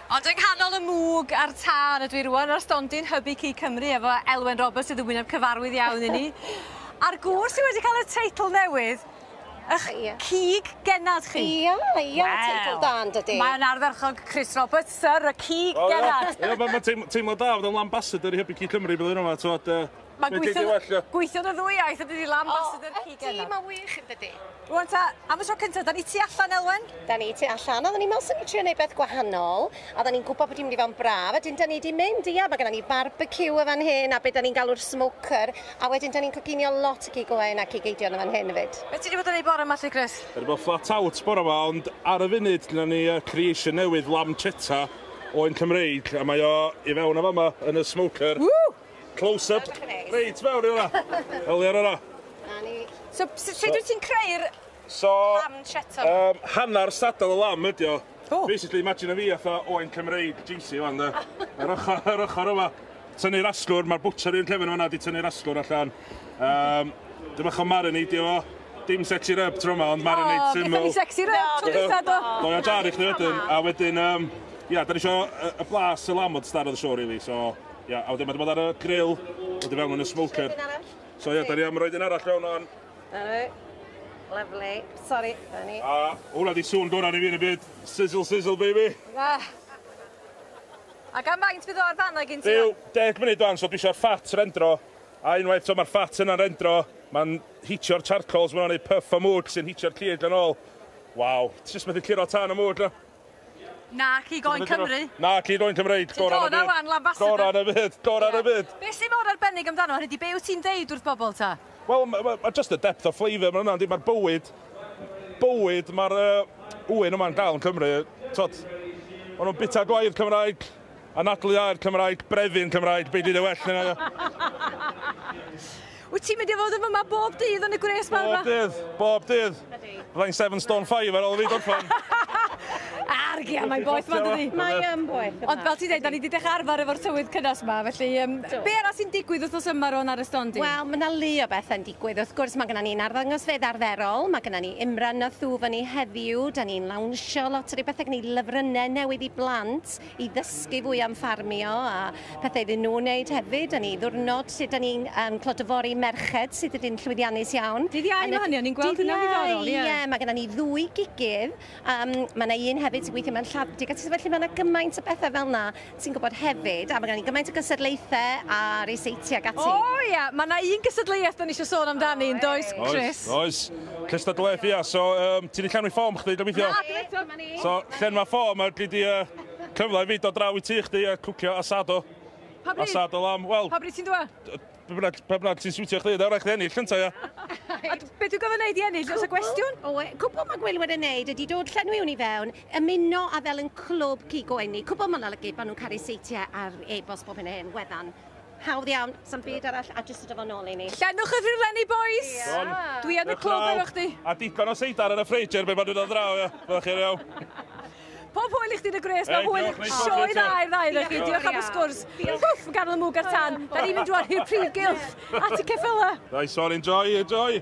Ond yng nghanol y mwg a'r tân ydw i rwan ar stondin Hybu Cig Cymru efo Elwen Roberts sydd yn wyneb cyfarwydd iawn i ni. A'r gŵr sydd wedi cael y teitl newydd, ych Ie. cig genad chi. Ia, ia, Wel. teitl da yn dydi? Mae'n ardderchog Chris Roberts, Sir y Cig Genad. Ie, ma' ma' teim- teimlo da fod yn ambassador i Hybu Cig Cymru blwyddyn yma, t'mod yy Mae'n gweithio, gweithio y ddwy iaith a dydy Lambassador oh, Keegan. O, ydy, mae'n wych yn dydy. Rwan ta, am y tro cyntaf, da ni tu allan, Elwen? Da ni tu allan, a da ni'n meddwl sy'n ni'n trio gwneud beth gwahanol, a da ni'n gwybod bod hi'n mynd i fod yn braf, a dyn da ni wedi mynd, ia, mae gennym ni barbecue o fan hyn, a beth da ni'n galw'r smoker, a wedyn da ni'n coginio lot o gig oen ac i geidion o fan hyn hefyd. Beth ti wedi bod yn ei bore yma, Lly Chris? Wedi bod flat out bore yma, ond ar y funud, dyna ni uh, creation newydd, lamb chetta, o'n Cymreig, a mae o i fewn o fama yn y smoker. Woo! Close up. Reit mewn i hwnna. Holi ar hwnna. Na ni. So, sut so, wyt ti'n creu'r so, lamb cheddar? Um, hanner sadal y lamb ydi o. Oh. Basically, imagine fi atho Owain Cymreig GC fan da. Yr ochr, yr ochr yma. Tynnu'r asgwr, mae'r bwtser i'n llefyn yma di tynnu'r asgwr allan. Um, Dyma chi marinade o. Dim sexy rub tro yma, ond marinade oh, syml. Oh, ni sexy rub, tro dwytha do. Do, ia, jar i chdi wedyn. A wedyn, um, ia, da ni eisiau y blas y lamod star oedd y siow, really, so... Ia, a wedyn mae 'di bod ar y grill, wedi fewn yn y smoker. Trin arall. So ia, da ni am roed un arall fewn o'n... Dyna Lovely. Sorry, da ni. A hwnna di sŵn gorau ni fi yn y byd. Sizzle, sizzle, baby. Na. A gan faint fydd o'r fan gyn ti? Rhyw 10 munud o'n, so dwi eisiau'r ffat rendro. A unwaith so mae'r ffat yna'n rendro, mae'n hitio'r charcoals, mae'n ei puff o mwg sy'n hitio'r cig yn ôl. Waw, ti jyst methu cliro tan y mwg na. Nac i Goen Cymru. Nac i Goen Cymreig, gorau yn y byd. Ti'n dod o wan, Lambassador. Gorau yn y byd, gorau yn y byd. Be sy'n mor arbennig amdano hwn ydi, be wyt ti'n deud wrth bobl ta? Wel, mae just y depth of flavour mae hwnna'n di, mae'r bywyd, bywyd mae'r uh, ŵyn yma'n gael yn Cymru, tod, maen nhw'n bita gwair Cymraeg, Anadlu ar Cymraeg, brefu'n Cymraeg, be di dy well na io? Wyt ti'n mynd i fod yn fyma bob dydd yn y gwres mawr Bob dydd, bob dydd. Fyddai'n seven stone five ar ôl fi gorffan. Argia, mae'n boeth ma dydi? Mae yn boeth. Ond fel ti'n dweud, da ni wedi dechrau arfer efo'r tywydd cynnes yma, felly um, be arall sy'n digwydd wrthnos yma ro'n ar y stondi? Wel, mae yna le o bethau'n digwydd. Gwedd wrth gwrs mae gynna ni'n arddangosfeydd arferol, mae gynna ni Imran a Thu fyny heddiw, da ni'n lawnsio lot o ryw bethau gneud lyfrynnau newydd i blant i ddysgu fwy am ffarmio a pethau iddyn nhw wneud hefyd, da ni ddiwrnod lle da ni'n um, clod y fori merched sydd wedi'n llwyddiannus iawn. Dydd Iau mae hynny, o'n i'n gweld hynna'n ddiddorol, ie. Ie, mae gynna ni ddwy gigydd, um, mae yna un hefyd sy'n gweithio mewn lladd, digatrys, felly mae yna gymaint o bethau fel yna Ti'n gwybod hefyd, a mae gen i gymaint o gystadlaethau a reiseitiau ac ati. O ia, mae yna un gystadleuaeth da ni eisiau sôn amdani, yn does, Chris? Oes, oes. Cystadleuaeth, ia. So, um, ti'n ei llenwi ffom chdi, gobeithio? Na, dwi'n eto. So, llenwa ffom, a gyd i uh, cyfle i fi dod draw i ti chdi a cwcio asado. Pa bryd? Asado lam, wel... Pa bryd ti'n dwa? Pe bynnag, pe bynnag ti'n siwtio chdi, nawr rhaid chdi ennill, llynta, ia? A d- be dwi'n gofyn neud i ennill, oes y gwestiwn? O, e, cwbl mae Gwylwyr wedi wneud ydy dod llenwi hwn i fewn, ymuno a fel yn clwb cig o enni. Cwbl mae'n olygu bod nhw'n caru seitiau ar e-bost bob hyn a hyn, gweddan. Hawdd iawn, sam byd arall, a jyst y dyfod nôl i ni. Llenwch y rhywlenni, boys! Iawn. Dwi yn y Dewch clwb draw, efo chdi. A digon o seidar yn y ffridge erbyn bod nhw'n dod draw, ia? Fyddwch chi'n iawn. Pob hwyl i chdi yn y gwres, mae hwyl sioe dda i'r ddau na chi, diolch am y sgwrs. Hwff, yn ganol y mwg ar tan, da ni'n mynd rwan i'r prif gylch, at y ceffyla. Nice one, enjoy, enjoy.